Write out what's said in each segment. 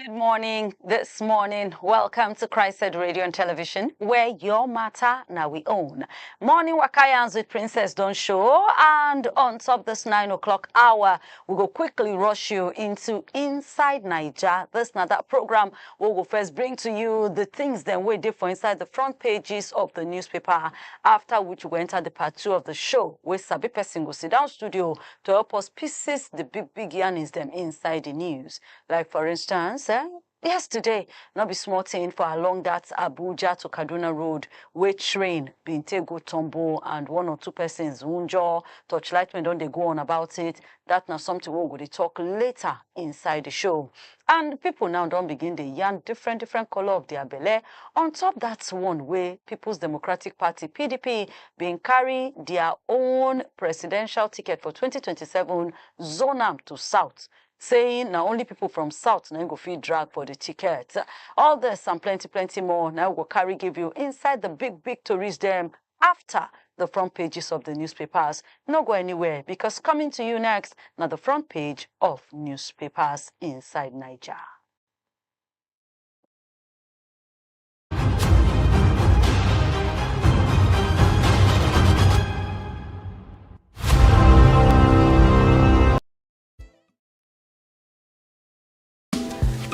Good morning, this morning. Welcome to Christed Radio and Television, where your matter now we own. Morning Wakayans with Princess Don Show, and on top this 9 o'clock hour, we go quickly rush you into Inside Niger. This now that program we will first bring to you the things that we did for inside the front pages of the newspaper, after which we enter the part two of the show, where Sabi Person go sit down studio to help us pieces the big big yarnings them inside the news. Like for instance, eh, yesterday, not be small thing for along that Abuja to Kaduna road where train been take go tumble and one or two persons wunjo torchlight when don't they go on about it. That now something we will talk later inside the show. And people now don begin dey yarn different different color of their belle on top that one wey People's Democratic Party PDP bin carry their own presidential ticket for 2027 zone am to south saying na only people from south na im go fit drag for the ticket. All this and plenty plenty more na we go carry give you inside the big big tories dem after the front pages of the newspapers. No go anywhere because coming to you next na the front page of newspapers inside Niger.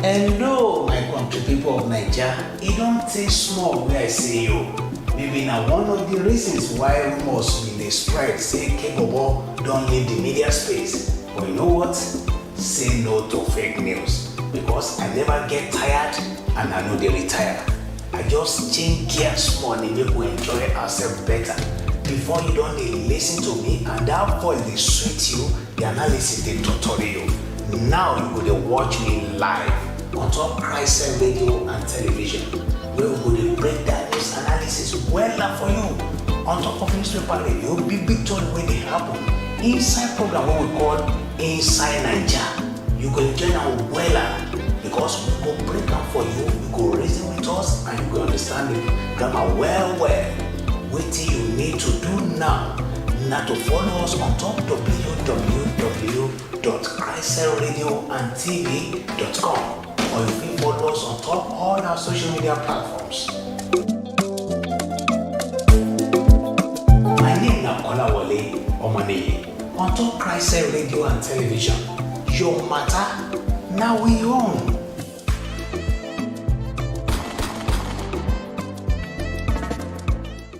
Hello, my country people of Naija. E don tey small wey I see you. Maybe na one of the reasons why rumors bin dey spread say Kebobo don leave the media space. But you know what? Say no to fake news because I never get tired and I no dey retire. I just change gear small dey make we enjoy ourselves better. Before you don dey listen to me and that voice dey sweet you, the analysis dey totori you. Now you go dey watch me live on top Christian radio and television wey we go dey break down news analysis wella for you on top of newspaper radio big big tori wey dey happen inside program wey we call Inside Naija. You go enjoy am wella because we go break am for you, you go reason with us and you go understand the grammar well well. Wetin you need to do now na to follow us on top www. www.christcellradioandtv.com or you fit follow us on top all our social media platforms. My name na Kolawole Omoniyi on top Christ Cell Radio and Television. Your matter na we own.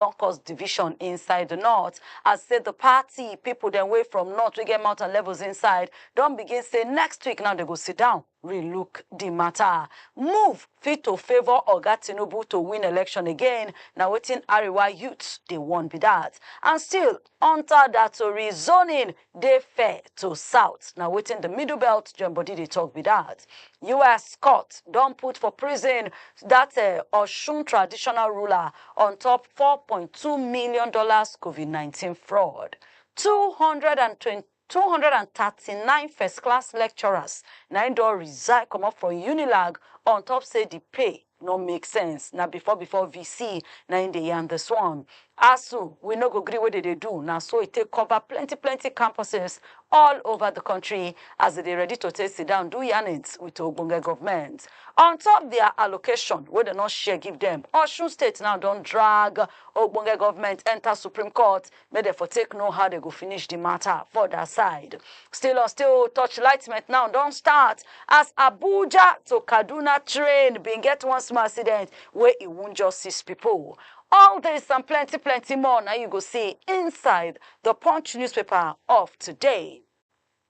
don cause division inside the north as say the party people dem wey from north wey get mountain levels inside don begin say next week now dem go sit down relook the matter move fit to favour oga tinubu to win election again na wetin arewa youths dey warn be that and still Enter that tori, zoning dey fair to South. Na wetin the Middle Belt join body dey talk be that. US court don put for prison that uh, Osun traditional ruler on top $4.2 million COVID-19 fraud. Two hundred and thirty nine first class lecturers na im don resign comot from Unilag on top say di pay no make sense. Na before before VC na im dey yarn this one. Asuu we no go gree wey dey dey do na so e take cover plenty plenty campuses all over the country as dey dey ready to take sit down do yarnings with ogbonge government on top their allocation wey dem no share give dem. Osun state now don drag ogbonge government enter Supreme Court make dem for take know how dem go finish the matter for their side. Still on still, torchlightment now don start as Abuja to Kaduna train bin get one small accident wey e wound just six people. All this and plenty plenty more na you go see inside the Punch newspaper of today.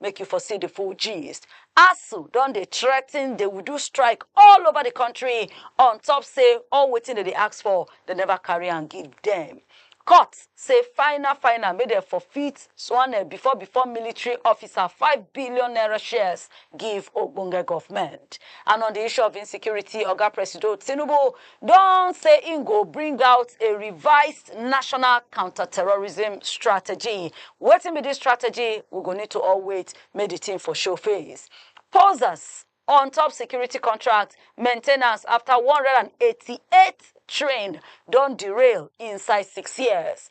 Make you for see the full gist. ASUU don dey threaten they will do strike all over the country on top say all waiting they ask for, they never carry and give them. Court say final final made dem for fit swan eh, before before military officer 5 billion naira shares give Ogbonge government. And on the issue of insecurity, Oga Presido Tinubu don say im go bring out a revised national counter-terrorism strategy wetin be dis strategy we go need to all wait make di tin for show face posers on top security contract maintenance afta one hundred and eighty eight train don derail inside six years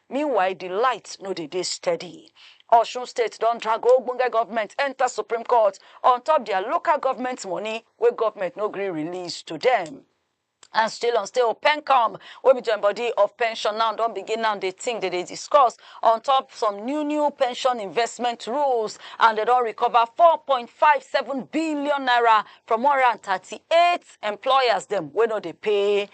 Meanwhile, di light no dey dey steady. Osun State don drag ogbonge government enter Supreme Court on top dia local government money wey government no gree release to dem. And still on still, PenCom wey be join body of pension now don begin now dey think, dey dey discuss on top some new new pension investment rules and dem don recover four point five seven billion naira from one hundred and thirty eight employers dem wey no dey pay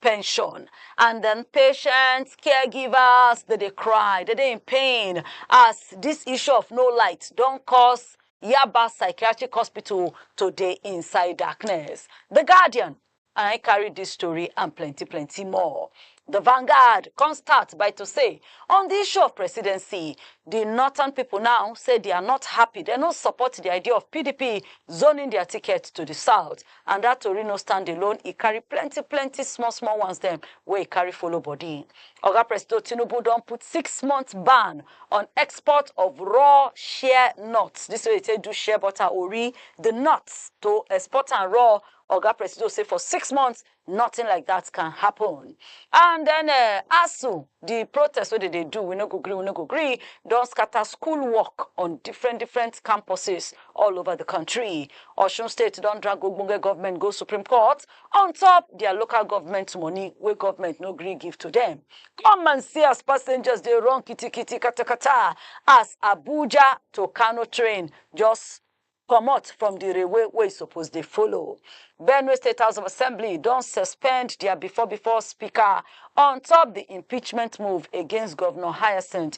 pension and then patients caregivers dey dey cry dey dey in pain as this issue of no light don cause yaba psychiatric hospital to dey inside darkness the guardian i carry this story and plenty plenty more the vanguard come start by to say on the issue of presidency the northern people now say they are not happy they no support the idea of pdp zoning their ticket to the south And dat tori no stand alone, e carry plenty plenty small small ones dem wey e carry follow body. Oga Presido Tinubu don put six month ban on export of raw shea nuts. Dis way e take do shea butter ori, the nuts to export am raw. Oga Presido say for six months, nothing like that can happen. And then uh, ASU, the protest wey dey dey do, we no go gree, we no go gree, don scatter school work on different different campuses all over di kontri. Osun State don drag ogbonge government go Supreme Court on top dia local government money wey government no gree give to dem. Come and see as passengers dey run kitikiti katakata as Abuja to Kano train just comot from di railway wey e suppose dey follow. Benue State House of Assembly don suspend dia before before speaker on top di impeachment move against Govnor Hyacinth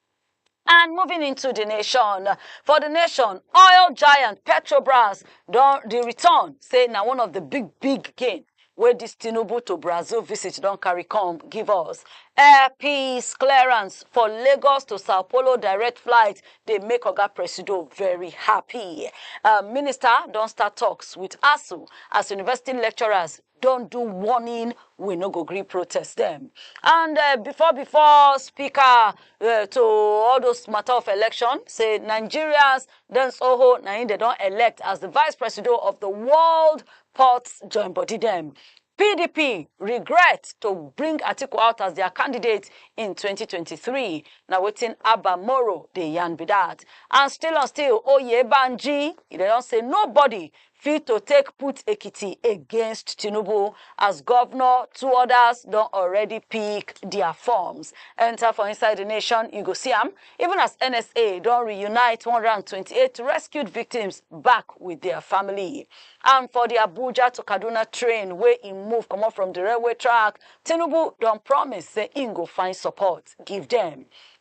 And moving into the nation, for the nation, oil giant Petrobras don the return say na one of the big big gain wey this Tinubu to Brazil visit don carry come give us. Air peace clearance for Lagos to Sao Paulo direct flight dey make Oga Presido very happy. Uh, minister don start talks with ASU as university lecturers don do warning we no go gree protest dem and uh, before before speaker uh, to all those matter of election say nigerians then soho na him they don elect as the vice president of the world ports join body dem PDP regret to bring Atiku out as their candidate in 2023. Now waiting Abba Moro, the yarn be that. And still on still, Oye Banji, they don't say nobody fit to take put Ekiti against Tinubu as governor, two others don already pick their forms. Enter for inside the nation, you go see am. Even as NSA don reunite 128 rescued victims back with their family. And for the Abuja to Kaduna train wey e move comot from the railway track, Tinubu don promise say im go find support give them.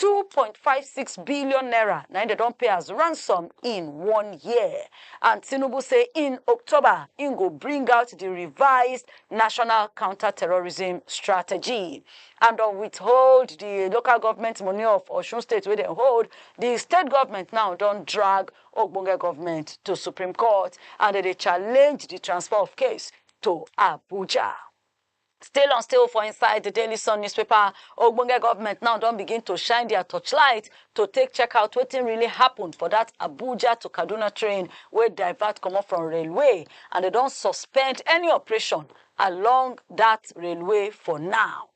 2.56 billion naira na im dem don pay as ransom in one year and tinubu say in october im go bring out di revised national counter-terrorism strategy and don withhold di local government money of osun state wey dem hold di state government now don drag ogbonge government to supreme court and dem dey challenge di transfer of case to abuja. Still on still for inside the Daily Sun newspaper, Ogbonge government now don begin to shine their torchlight to take check out wetin really happen for that Abuja to Kaduna train wey divert comot from railway and they don suspend any operation along that railway for now.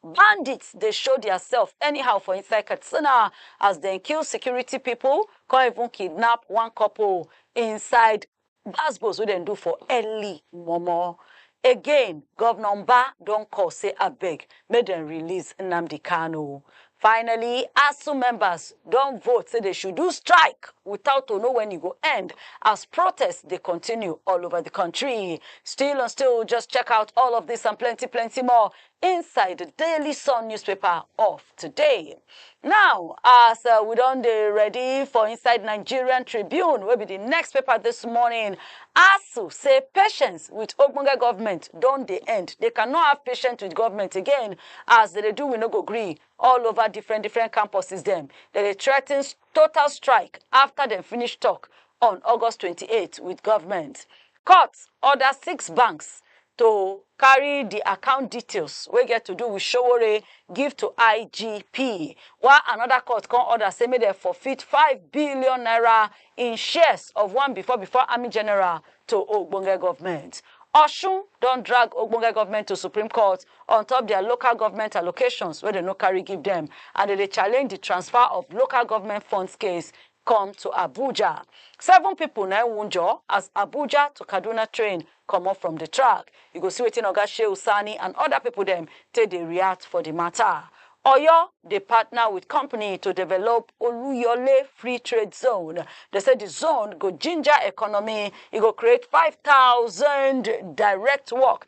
bandits dey show diasef anyhow for inside katsina as dem kill security pipo come even kidnap one couple inside Gbas gbos wey dem do for early momo. Again, Govnor Mbah don call say abeg make dem release Nnamdi Kanu. Finally, Asuu members don vote say dey should do strike without to know when e go end as protests dey continue all over the country. Still on Still, just check out all of this and plenty plenty more inside the Daily Sun newspaper of today. Now, as uh, we don't dey ready for inside Nigerian Tribune, will be the next paper this morning, ASU say patience with Ogbonge government don't dey end. They cannot have patience with government again as they do we no go agree all over different different campuses Them They dey threaten total strike after they finish talk on August 28 with government. Court order six banks to carry di account details wey get to do wit Sowore give to IGP, while anoda court come order say make dem forfeit five billion naira in shares of one before before army general to ogbonge goment. Osun don drag ogbonge goment to Supreme Court on top dia local goment allocations wey dem no carry give dem and dem dey challenge di transfer of local goment funds case come to Abuja. Seven people na im wunjure as Abuja to Kaduna train comot from the track. You go see wetin Oga Shehu Sani and other people dem take dey react for the matter. Oyo dey partner with company to develop Oluyole Free Trade Zone. They say the zone go ginger economy, e go create 5,000 direct work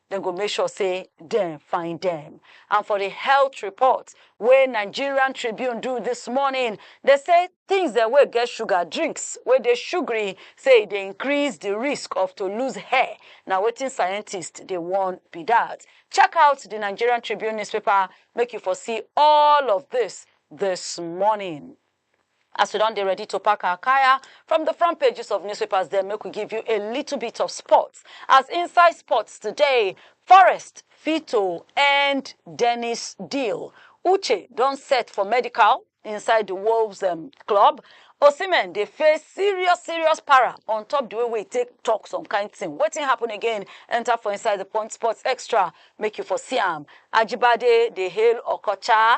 dem go make sure say dem find dem. And for the health report wey Nigerian Tribune do this morning, they say things dem wey get sugar, drinks wey dey sugary, say e dey increase the risk of to lose hair. Na wetin scientists dey warn be that. Check out the Nigerian Tribune newspaper make you for see all of this this morning. As we don dey ready to pack our kaya, from the front pages of newspapers dem, make we give you a little bit of sports. As inside sports today, Forest fit to end Dennis deal. Uche don set for medical inside the Wolves um, club. Osimhen dey face serious serious para on top the way wey e take talk some kind thing. Wetin happen again? Enter for inside the Point Sports Extra, make you for see am. Ajibade dey hail Okocha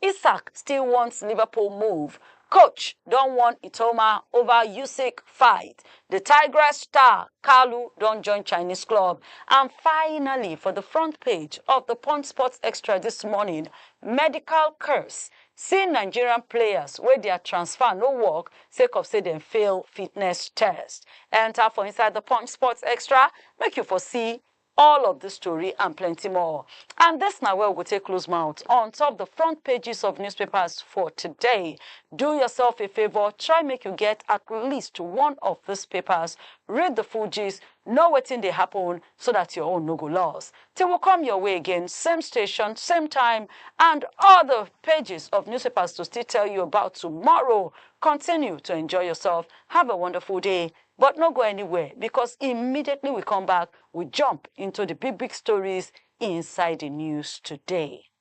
Isak still want Liverpool move, coach don warn Itoma over Usyk fight, the Tigress star Kalu don join Chinese club, and finally for the front page of the Punch Sports Extra this morning, medical curse see Nigerian players wey their transfer no work sake of say dem fail fitness test. Enter for inside the Punch Sports Extra make you for see All of dis tori and plenty more. And dis na where we go take close mouth on top the front pages of newspapers for today. Do yourself a favour, try make you get at least one of these papers, read the full gist, know wetin dey happen so that your own no go loss. Till we come your way again, same station, same time, and other pages of newspapers to still tell you about tomorrow. Continue to enjoy yourself. Have a wonderful day. But no go anywhere because immediately we come back, we jump into the big big stories inside the news today.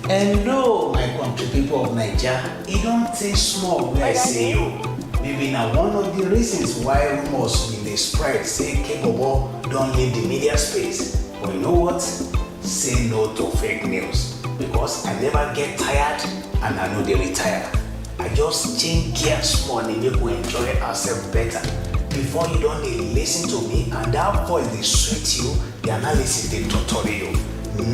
Hello, my country people of Naija. E don tey small wey I see you. Maybe na one of the reasons why rumors bin dey spread say Kebobo don leave the media space. But you know what? Say no to fake news because I never get tired and I no dey retire. I just change gear small dey make we enjoy ourselves better. Before you don dey listen to me and that voice dey sweet you, the analysis dey totori you.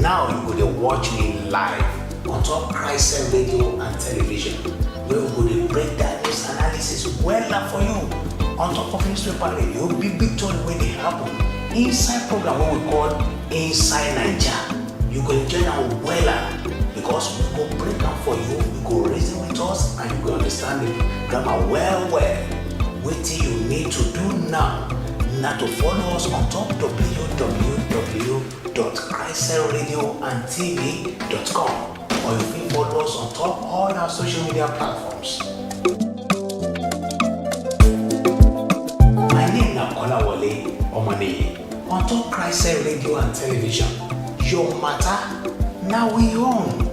Now you go dey watch me live on top Christian radio and television wey we go dey break down news analysis wella for you on top of newspaper radio big big tori wey dey happen inside program wey we call Inside Naija. You go enjoy am wella because we go break am for you, you go reason with us and you go understand the grammar well well. Wetin you need to do now na to follow us on top www www.christcellradioandtv.com or you fit follow us on top all our social media platforms. My name na Kolawole Omoniyi on top Christ Cell Radio and Television. Your matter na we own.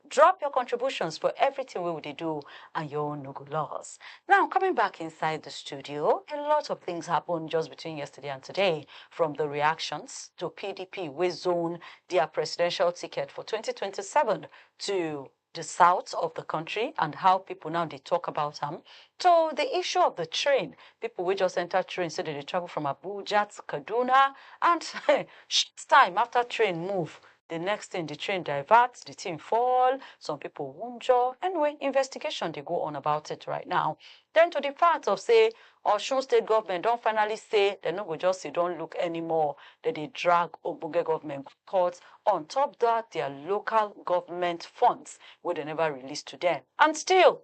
Drop your contributions for everything wey we dey do and your own no go loss. Now, coming back inside the studio, a lot of things happen just between yesterday and today, from the reactions to PDP wey zone their presidential ticket for 2027 to the south of the country and how people now dey talk about am, to the issue of the train, people wey just enter train say they dey travel from Abuja to Kaduna and short time after train move, Di next tin di train divert, di tin fall, some pipo wunjure, anyway investigation dey go on about it right now. Den to di fact of say Osun State Government don finally say dem no go just siddon look anymore, dem dey drag ogbonge government go court on top dat dia local government funds wey dem neva release to dem and still,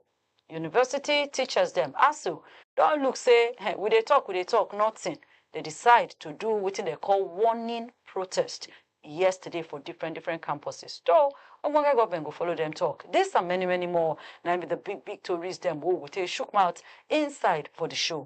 University teachers dem, ASUU, don look say um we dey tok, we dey tok, nothing, dem decide to do wetin dem call warning protest yesterday for different different campuses. Though ogbonge government go follow dem tok. Dis and many many more na im be di big big tories dem wey we go take shook mouth inside for di show.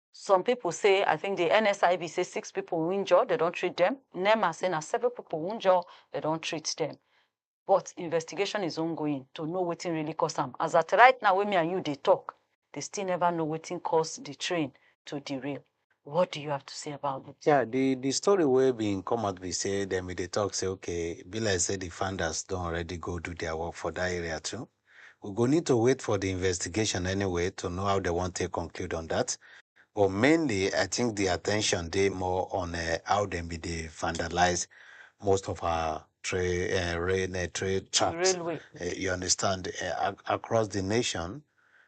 Some pipo say I think di NSIB say six pipo wunjure, dem don treat dem, nema say na several pipo wunjure, dem don treat dem. But investigation is ongoing to know wetin really cause am. As at right now wey me and you dey tok, dem still neva know wetin cause di train to derail. What do you have to say about it? Yeah, di di story wey bin come out be say dem bin dey tok say okay, e be like say di founders don already go do dia work for dat area too. We go need to wait for di investigation anyway to know how dem wan take conclude on dat, but mainly I think di attention dey more on um how dem bin dey vandalise most of our tray um rail um train tracks, Railway. um you understand, um across di nation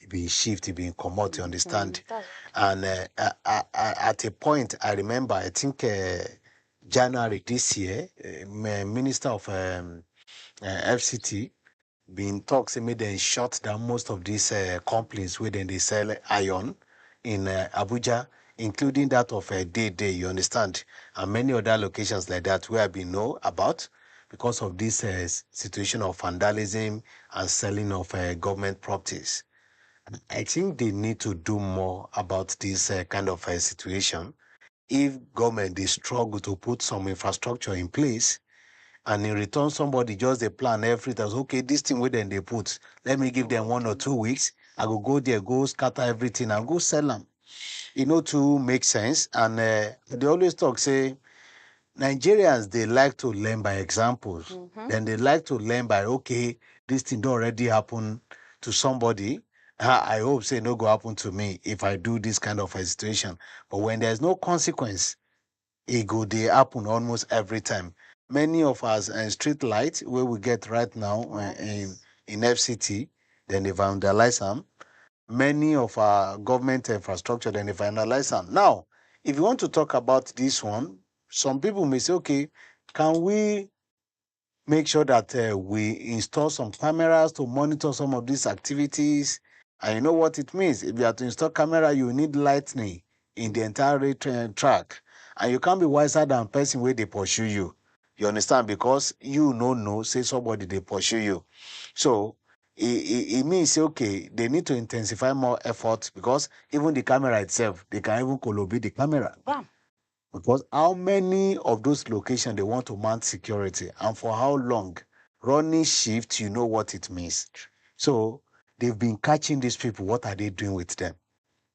e bin shift e bin comot you understand and uh, I, I, I, at a point i remember i think uh, january this year uh, my minister of um, uh, fct bin talk say make dem shut down most of these uh, companies wey dem dey sell iron in uh, abuja including that of uh, day day you understand and many other locations like that wey i bin know about Because of dis situation of vandalism and selling of government properties, I think dey need to do more about dis kind of situation, if government dey struggle to put some infrastructure in place and in return somebody just dey plan everytime sey okay dis thing wey dem dey put let me give dem one or two weeks I go go there go scatter everything and go sell am, e no too make sense and I dey always talk sey Nigerians dey like to learn by examples. Mm -hmm. Then they like to learn by okay, this thing don't already happen to somebody. I hope say no go happen to me if I do this kind of a situation. But when there's no consequence, it go they happen almost every time. Many of us and uh, street light where we get right now uh, yes. in in FCT, Dem dey vandalize am, many of our government infrastructure dem dey vandalize am. Now, if you want to talk about this one, some people may say okay, can we make sure that uh, we install some cameras to monitor some of these activities? And you know what it means? If you are to install camera, you need lightning. in the entire track and you can't be wiser than person wey dey pursue you you understand because you no know say somebody dey pursue you so e e e mean say okay they need to intensify more effort because even the camera itself they can even kolobi the camera Bam. because how many of those locations they want to mount security and for how long running shift you know what it means so they've been catching these people what are they doing with them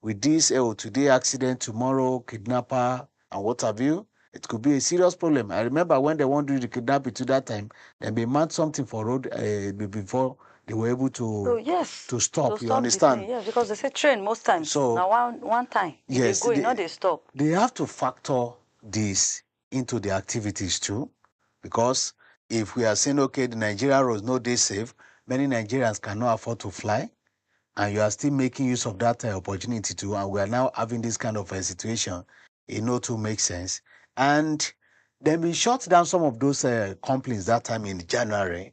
With this eh oh today accident tomorrow kidnapper and what have you it could be a serious problem I remember when they wan do the kidnapping to that time dem bin mount something for road eh, be- before they were able to So yes. to stop you to stop the understand thing, yes, because they say train most times. So- na one one time. Yes, Yes. They go, e they- no dey stop. they have to factor this into the activities too because if we are saying okay the Nigerian roads no dey safe many Nigerians cannot afford to fly and you are still making use of that uh, opportunity too and we are now having this kind of a uh, situation it no too make sense and then we shut down some of those uh, companies that time in January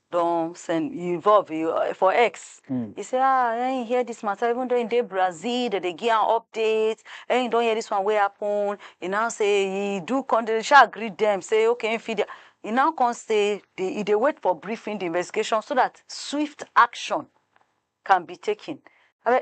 don send e involve e, uh, for X. Mm. He say ah, eh, he hear this matter even though he dey Brazil, they dey give am update. And eh, he don hear this one wey happen. He now say he do come dey sha agree them say okay, he fit. Dey. He now come say they, he dey wait for briefing the investigation so that swift action can be taken. I mean,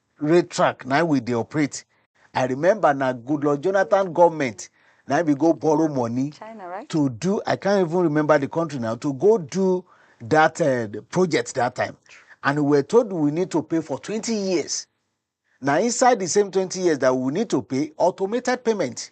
rail track na we dey operate i remember na goodluck jonathan government na we go borrow money China, right? to do i can't even remember the country now to go do that uh, the project that time and we were told we need to pay for 20 years now inside the same 20 years that we need to pay automated payment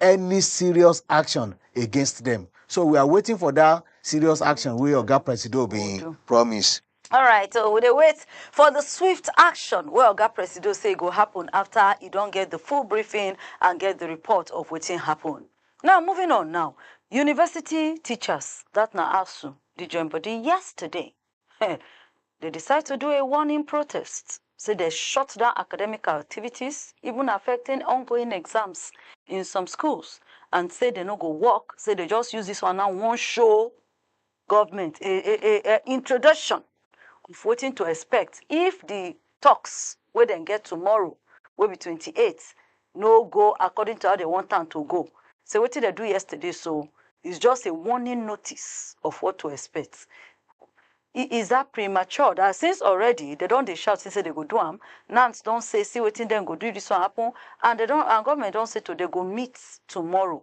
any serious action against them. So we are waiting for that serious action wey Oga Presido bin promise. All right, so we dey wait for the swift action wey Oga Presido say go happen after e don get the full briefing and get the report of wetin happen. Now moving on now, university teachers that na ASUU dey join body yesterday um dem decide to do a warning protest say dem shut down academic activities, even affecting ongoing exams in some schools and say dem no go work, say dem just use dis one now wan show government a a a introduction of wetin to expect if di talks wey dem get tomorrow wey be twenty eight no go according to how dem want am to go say wetin dem do yesterday so is just a warning notice of what to expect i- is that premature that since already dem don dey shout say say dem go do am nans don say see wetin dem go do if this one happen and dem don and government don say to dem go meet tomorrow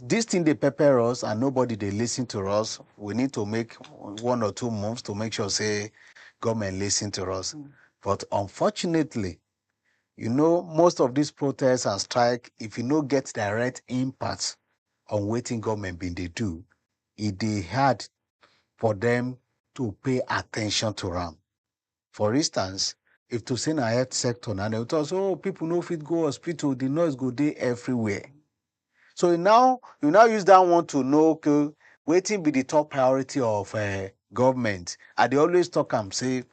This thing dey pepper us and nobody dey listen to us. We need to make one or two moves to make sure say government listen to us. Mm. But unfortunately, you know, most of these protests and strike, if you no get direct impact on waiting government being they do, it e dey hard for them to pay attention to them. For instance, if to say na health sector na, dem go talk say oh pipu no fit go hospital, di noise go dey everywhere. So you now you now use dat one to know okay wetin be di top priority of um government. I dey always talk am say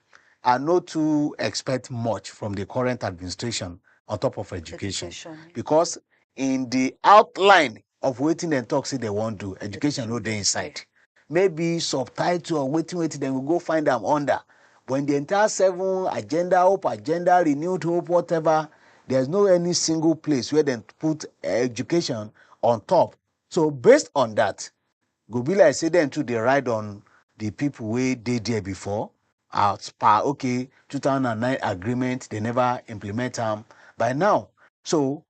I no too expect much from di current administration on top of education. Education. Because in the outline of wetin dem talk say dem wan do education no dey inside maybe subtitle or wetin wetin dem go go find am under but in the entire seven agenda hope agenda renewed hope whatever there is no any single place where dem put education on top so based on that go be like say dem too dey ride on the people wey dey there before as per okay 2009 agreement they never implement am by now so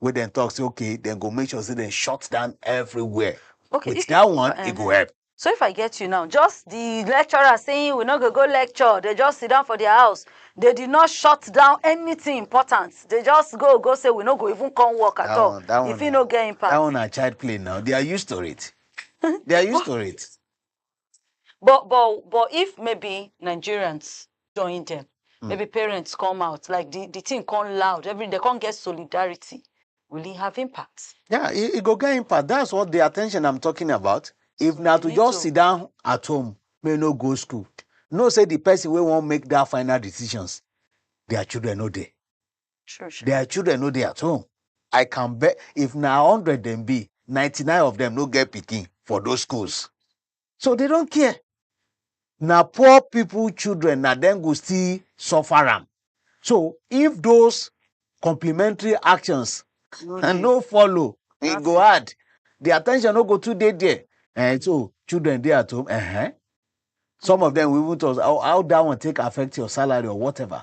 wey dem talk say okay dem go make sure say dem shut down everywhere okay with that one uh, e go uh-huh. help so if i get you now just the lecturer saying we no go go lecture they just sit down for their house they did not shut down anything important they just go go say we no go even come work at that all one, that if one, you no get impact that one na child play now they are used to it they are used to it but but but if maybe nigerians join them Mm. maybe parents come out like the the thing come loud every they come get solidarity will it have impact Yeah, it, it go get impact. That's what the attention I'm talking about. If So na we to need just to- sit down at home, may no go school. No say the person wey wan make that final decisions, their children no dey. Sure, sure. Their children no dey at home. I can bet if na hundred dem be, ninety-nine of them no get pikin for those schools. So they don't care. Na poor people children na dem go still suffer am. So if those complementary actions No and dey. no follow e That's go it. hard the attention no go too dey there eh so children dey at home eh some of them will even talk how, how that one take affect your salary or whatever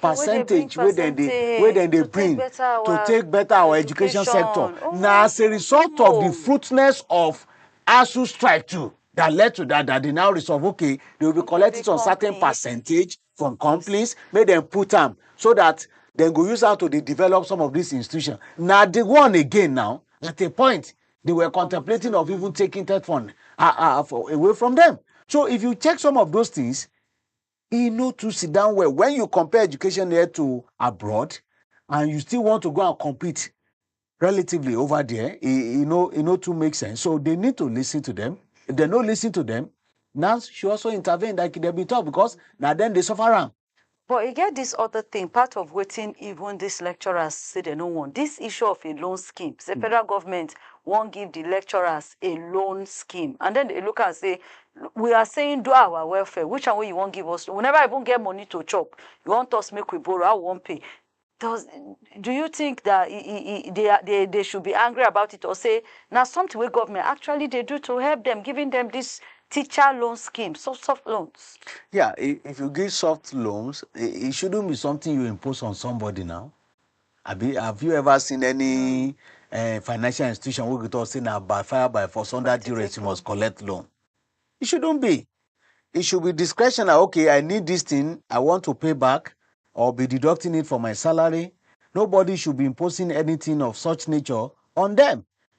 percentage wey dem dey wey dem dey bring to take better our education sector oh, na as a result of the fruitfulness of ASUU strike too that led to that that they now resolve okay they will be collecting some certain percentage from companies make dem put am so that dem go use am to dey develop some of these institutions na the one again now at a point they were contemplating of even taking tech fund uh, uh, for, away from them so if you check some of those things e no too sit down well when you compare education here to abroad and you still want to go and compete relatively over there e e no e no too make sense so they need to listen to them if they no listen to them now she also intervene like they be talk because na them dey suffer am But e get this other thing, part of wetin even these lecturers say dem no want, this issue of a loan scheme. Say federal government wan give the lecturers a loan scheme and then they look am say we are saying do our welfare which one wey you wan give us we never even get money to chop you want us make we borrow how we wan pay does do you think that e, e, e, they, are, they they should be angry about it or say na something wey government actually dey do to help them giving them this teacher loan scheme soft soft loans. Yeah, i- if you give soft loans, i- it shouldn't be something you impose on somebody now. Abi have you ever seen any uh, financial institution wey go talk say na by fire by force under duress you must collect loan? It shouldn't be. It should be discretional. Okay, I need this thing. I want to pay back or be deducting it from my salary. Nobody should be imposing anything of such nature on them.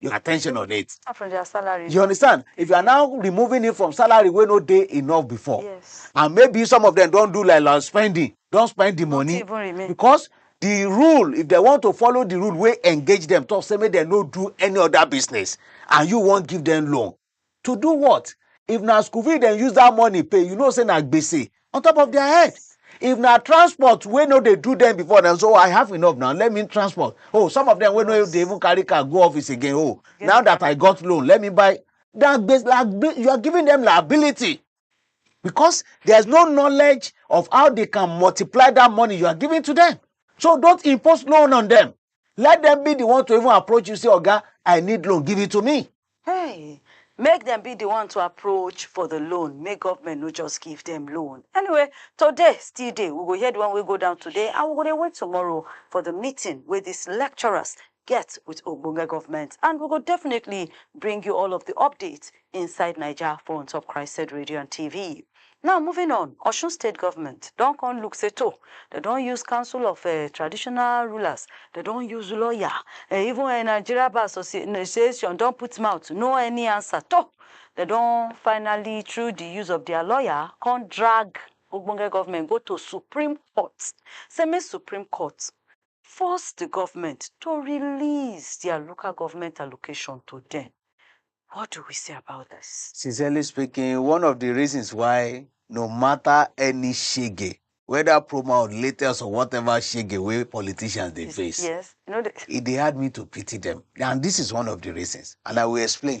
your attention on it. Apart from their salary. You understand? If you are now removing it from salary wey no dey enough before, Yes. and maybe some of them don do like like spending, don spend the money Even remain. because the rule if they want to follow the rule wey engage them talk say make dem no do any other business and you wan give them loan to do what if na school fee dem use that money pay you know say na gbese on top of their head if na transport wey no dey do them before na so i have enough now let me transport oh some of them wey no dey even carry car go office again oh now that i got loan let me buy that gbese like you are giving them liability Because there's no knowledge of how they can multiply that money you are giving to them. So don't impose loan on them. Let them be the one to even approach you, say, Oga, I need loan, give it to me. Hey, make them be the one to approach for the loan. Make government no just give them loan. Anyway, today, still day, we go hear the one we go down today, and we go dey wait tomorrow for the meeting where these lecturers get with ogbonge government and we go definitely bring you all of the updates inside Naija for on top Christed Radio and TV. Now moving on, Osun State government don come look say to, they don use council of uh, traditional rulers, they don use lawyer, uh, even uh, Nigeria Bar Association don put mouth, no any answer to. They don finally through the use of their lawyer come drag ogbonge government go to Supreme Court. Say make Supreme Court force di government to release dia local government allocation to dem. What do we say about dis? Sincerely speaking, one of di reasons why no mata any shege, weda promo or latest or whatever shege wey politicians dey face, Yes, you know the, e dey hard me to pity dem and dis is one of di reasons and I will explain.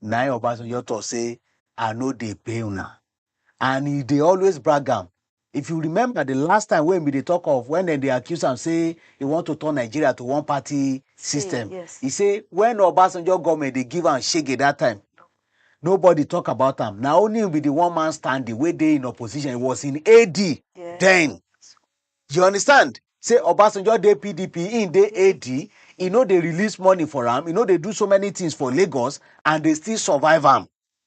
Na im Obasanjo talk say I no dey pay una and he dey always brag am. If you remember the last time wey he been dey talk of when dem dey accuse am say he want to turn Nigeria to one party system, yes. he say when Obasanjo government dey give am shege that time, nobody talk about am. Na only him be the one man standing wey dey in opposition. He was in AD yes. then. You understand? Say Obasanjo dey PDP, in dey AD, he no dey release money for am, he no dey do so many things for Lagos and they still survive am.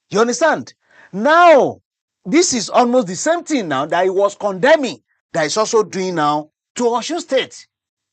You understand? Now, this is almost the same thing now that he was condemning that is also doing now to Osun State.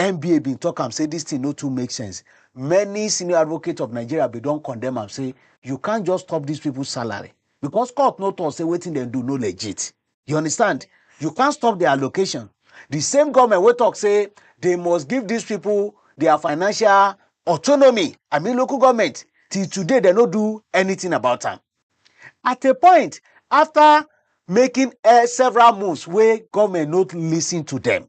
NBA bin tok am say dis tin no too make sense. Many senior advocates of Nigeria bin don condemn am say you can't just stop dis pipo salary becos court no tok say wetin dem do no legit. You understand? You can't stop dia allocation. Di same goment wey tok say dey must give dis pipo dia financial autonomy, I mean local goment, till today dem no do anytin about am. At a point, afta making eh, several moves wey goment no listen to dem,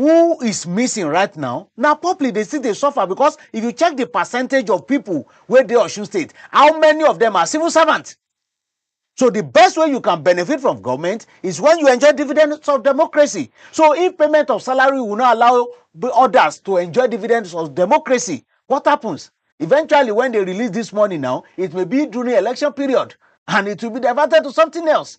who is missing right now na public dey still dey suffer because if you check the percentage of people wey dey osun state how many of them are civil servants so the best way you can benefit from government is when you enjoy dividends of democracy so if payment of salary will not allow the others to enjoy dividends of democracy what happens eventually when they release this money now it may be during election period and it will be diverted to something else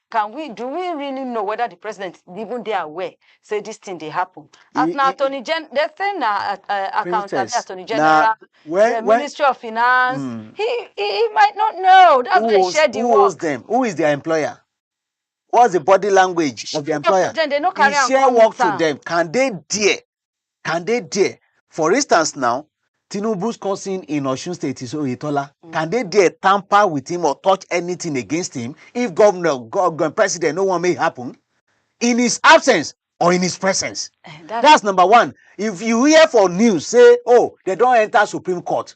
can we do we really know whether the president even dey aware say this thing dey happen as E- na e- attorney gen they say na uh, uh, accountant Princess, attorney na general when- the when- ministry of finance Mm. he, he he might not know that's who why he owes, share the who work owes them? Who is their employer? What's the body language of the employer? Then they no carry He am share come work to town. them. Can they dare can dey there for instance now tinubu's cousin in osun state is oyetola mm. can they dare tamper with him or touch anything against him if governor governor president no wan make it happen in his absence or in his presence eh, that's, that's number one if you hear for news say oh they don enter supreme court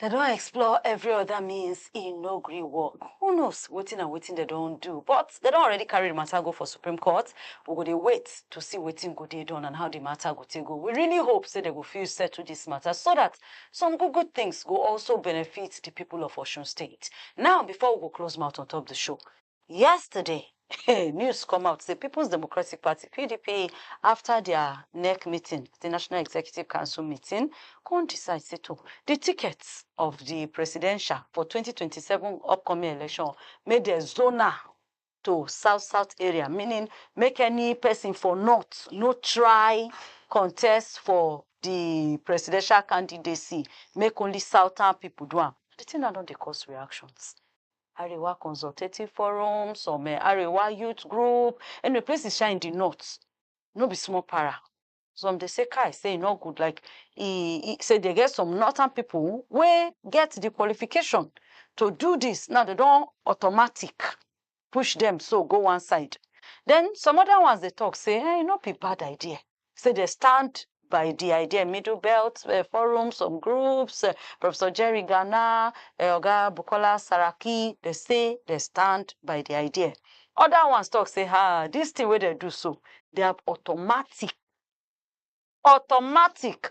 Dem don explore every other means, e no gree work. Who knows wetin and wetin dem don do, but dem don already carry the matter go for Supreme Court. We go dey wait to see wetin go dey done and how the matter go take go. We really hope say dem go fit settle this matter so that some good good things go also benefit the people of Osun State. Now, before we go close mouth on top the show, Yesterday, news come out say People's Democratic Party, PDP, after their NEC meeting, the National Executive Council meeting, come decide say to the tickets of the presidential for 2027 upcoming election, make the zona to south-south area, meaning make any person for north no try contest for the presidential candidacy, make only southern people do am. The thing na don dey cause reactions. Arewa Consultative Forum, some uh, Arewa Youth Group, and the place is shine the north. No be small para. Some they say Kai say e no good. Like he, he say they get some northern people where get the qualification to do this. Now they don't automatic push them so go one side. Then some other ones they talk say, hey, no be bad idea. say dem stand by di idea middle belt uh, forum some groups uh, professor jerry ghana uh, oga bukola saraki dey say dem stand by di idea other ones talk say ah this thing wey dem do so dey automatic automatic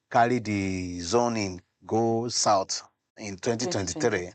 carry di zoning go south in twenty twenty three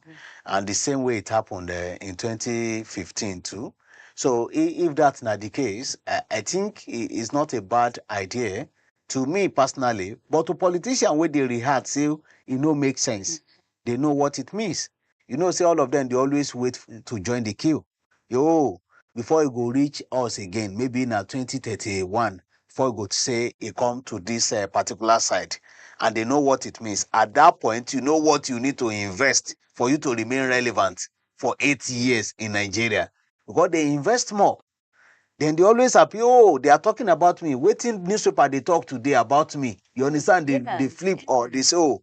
and di same way it happened eh, in twenty fifteen too so if dat na di case i think is not a bad idea to me personally but to politician wey dey react say e no make sense dey mm-hmm. know what it means you know say all of dem dey always wait to join di queue Yoo! Before e go reach us again, maybe na twenty thirty one before e go say e come to this eh particular side and dey know what it means. At that point, you know what you need to invest for you to remain relevant for eight years in Nigeria because they invest more. Then they always happy, oh, they are talking about me. Waiting newspaper they talk today about me. You understand? They, they flip or they say, oh,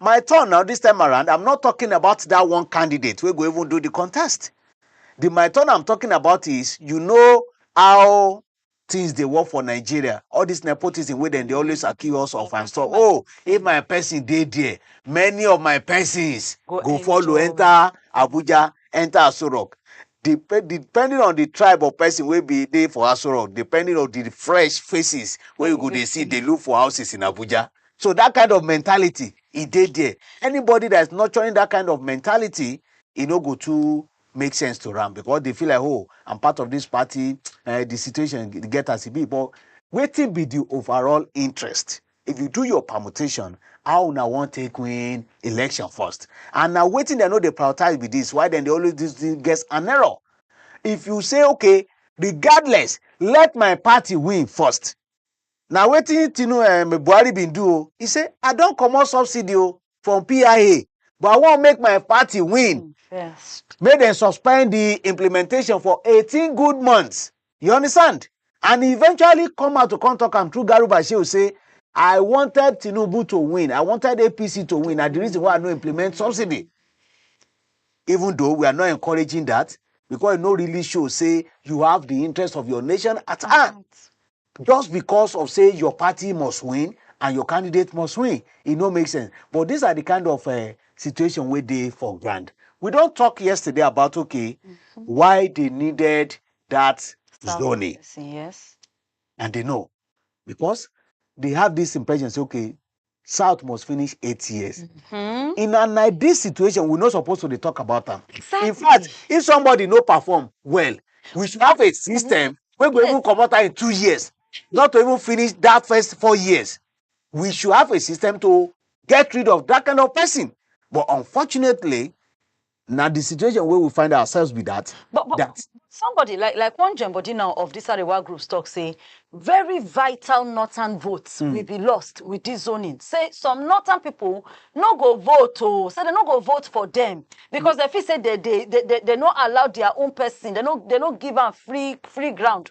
My turn now this time around I'm not talking about that one candidate wey go even do the contest. The my turn I'm talking about is you know how things dey work for Nigeria. All this nepotism wey dem dey always accuse us of and stuff. Oh, if my person dey there, many of my persons Go go, follow enter. enter Abuja, enter Aso Rock. Dep- depending on the tribe or person wey be dey for Aso Rock, depending on the fresh faces wey you go dey see, dey look for houses in Abuja. So that kind of mentality, e dey there. Anybody that is nurturing that kind of mentality, e no go too make sense to am because they feel like, oh, I'm part of this party, uh, the situation get as e be. But wetin be the overall interest? If you do your permutation, how una wan take win election first? And na wetin dem no dey prioritize be this, why dem dey always do this guess an error. If you say, okay, regardless, let my party win first. Na wetin Tinu um Buhari bin do o. He say, I don comot subsidy o from PIA, but I wan make my party win. First. Hmm, make dem suspend the implementation for 18 good months. You understand? And he eventually come out to come talk am through Garuba Shehu say, I wanted Tinubu to win. I wanted APC to win. And the reason why I no implement subsidy. Even though we are not encouraging that, because it no really show say you have the interest of your nation at heart. just because of say your party must win and your candidate must win e no make sense but these are the kind of uh, situation wey dey for ground we don talk yesterday about okay why they needed that South zoning East, Yes. and they know because they have this impression say okay south must finish eight years Hmm? in an ideal situation we no suppose to dey talk about am Exactly. in fact if somebody no perform well we should have a system wey go even Yes. comot am in two years not to even finish that first four years we should have a system to get rid of that kind of person but unfortunately Na di situation wey we find ourselves be dat. But but dat. somebody like like one joinbodi now of dis Arewa groups tok say very vital northern votes will be lost wit dis zoning, say some northern pipo no go vote o, say dem no go vote for dem because dem feel say dem dey dem no allow dia own pesin, dem no dem no give am free free ground.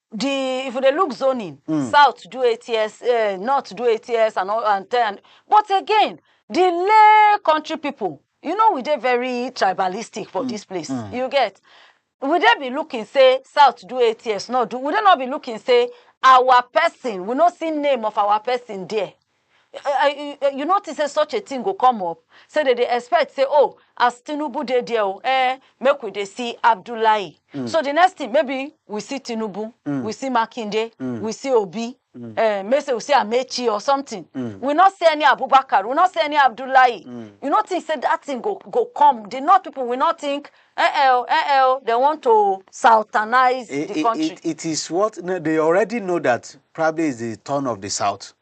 the if you dey look zoning mm. south do eight years uh, north do eight years and all and ten but again the lay country people you know we dey very tribalistic for mm. this place mm. you get we dey be looking say south do eight years no do we dey not be looking say our person we no see name of our person there you no think say such a thing go come up say dem dey expect say oh as tinubu dey there oh eh make we dey see abdullahi mm. so the next thing maybe we see tinubu mm. we see makinde mm. we see obi mm. uh, maybe say we see amechi or something mm. we not see any abubakar we not see any abdullahi mm. you no think say that thing go go come the north people we not think eh eh oh, eh eh oh, they want to southernize it, the country it, it, it is what they already know that probably is the turn of the south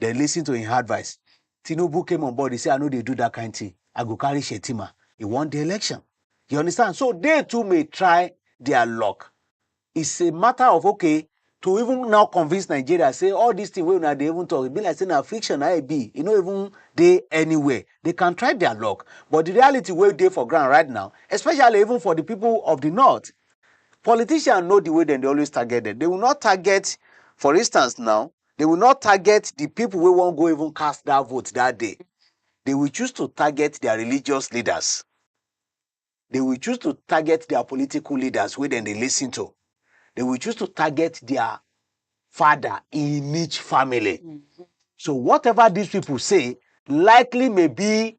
Dem listen to im advice. Tinubu came on board, he say, I no dey do that kind thing. I go carry Shettima. He won the election. You understand? So they too may try their luck. It's a matter of, okay, to even now convince Nigeria, say all these things wey una dey even talk, e be like say na fiction na e be, e no even dey anywhere. They can try their luck, but the reality wey dey for ground right now, especially even for the people of the north, politicians know the way dem dey always target them. They will not target, for instance now, They will not target the people wey wan go even cast that vote that day. They will choose to target their religious leaders. They will choose to target their political leaders wey dem dey listen to. They will choose to target their father in each family. Mm-hmm. So whatever these people say likely may be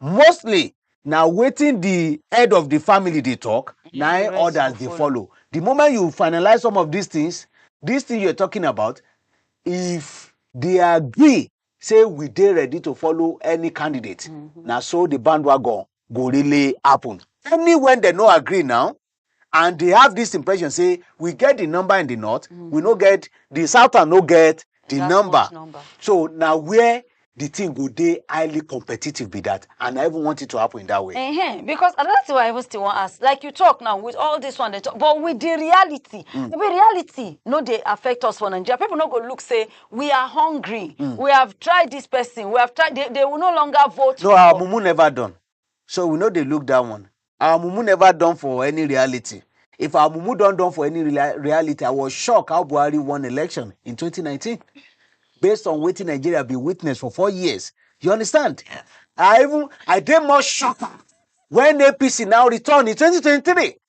mostly na wetin the head of the family dey talk na im others dey follow the moment you finalize some of these things this thing you're talking about if they agree say we dey ready to follow any candidate mm -hmm. na so the bandwagon go really happen only when they no agree now and they have this impression say we get the number in the north mm. we no get the southern no get the that number. number so now where the thing go dey highly competitive be that and i even want it to happen in that way. Uh -huh. because another thing i even still wan ask like you talk now with all this one talk, but with the reality mm. the reality no dey affect us for nigeria people no go look say we are hungry mm. we have tried this person we have tried they, they will no longer vote. no our mumu never done. so we no dey look that one our mumu never done for any reality if our mumu don done for any reality i was shocked how buhari won election in 2019 based on wetin nigeria be witness for four years you understand i even i dey more shocked when apc now return in 2023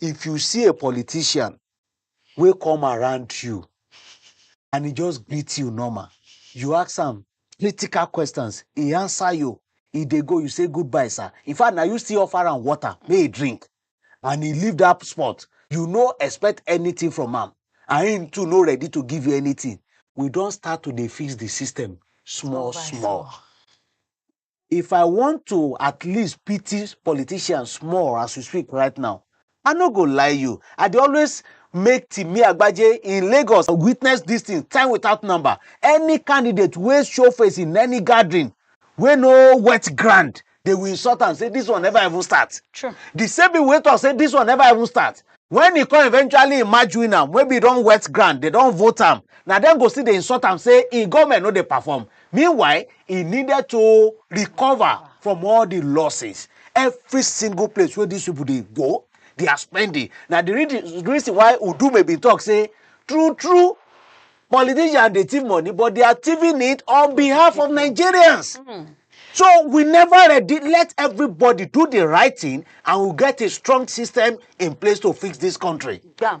if you see a politician wey come around you and he just greet you normal you ask am critical questions he answer you he dey go you say goodbye sir in fact na you still offer am water make he drink and he leave that spot you no expect anything from am and him too no ready to give you anything we don start to dey fix the system small small if I want to at least pity politicians small as we speak right now, I no go lie you. I dey always make Timi Agbaje in Lagos witness this thing time without number. Any candidate wey show face in any gathering wey no wet ground, they will insult am say this one never even start. True. The same people wey talk say this one never even start. When he come eventually emerge winner, maybe he don wet ground, they don vote am. Na dem go still dey insult am say im government no dey perform. Meanwhile, e needed to recover from all di losses. Every single place wey dis pipo dey go, dia spending na di reason why Udume bin tok say true true politicians dey thief money but dia thieving it on behalf of Nigerians. Hmm. So we never ready let everybody do the right thing and we get a strong system in place to fix this country. Gbam.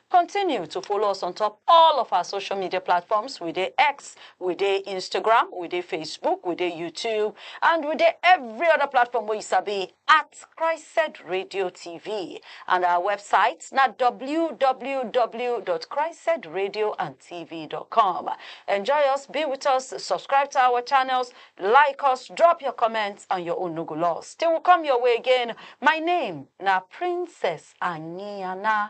Continue to follow us on top all of our social media platforms. We dey X, we dey Instagram, we dey Facebook, we dey YouTube, and we dey every other platform wey you sabi at Christ Radio TV. And our website na www.christradioandtv.com. Enjoy us, be with us, subscribe to our channels, like us, drop your comments, and your own no go lost. Till we come your way again, my name na Princess Anyiana.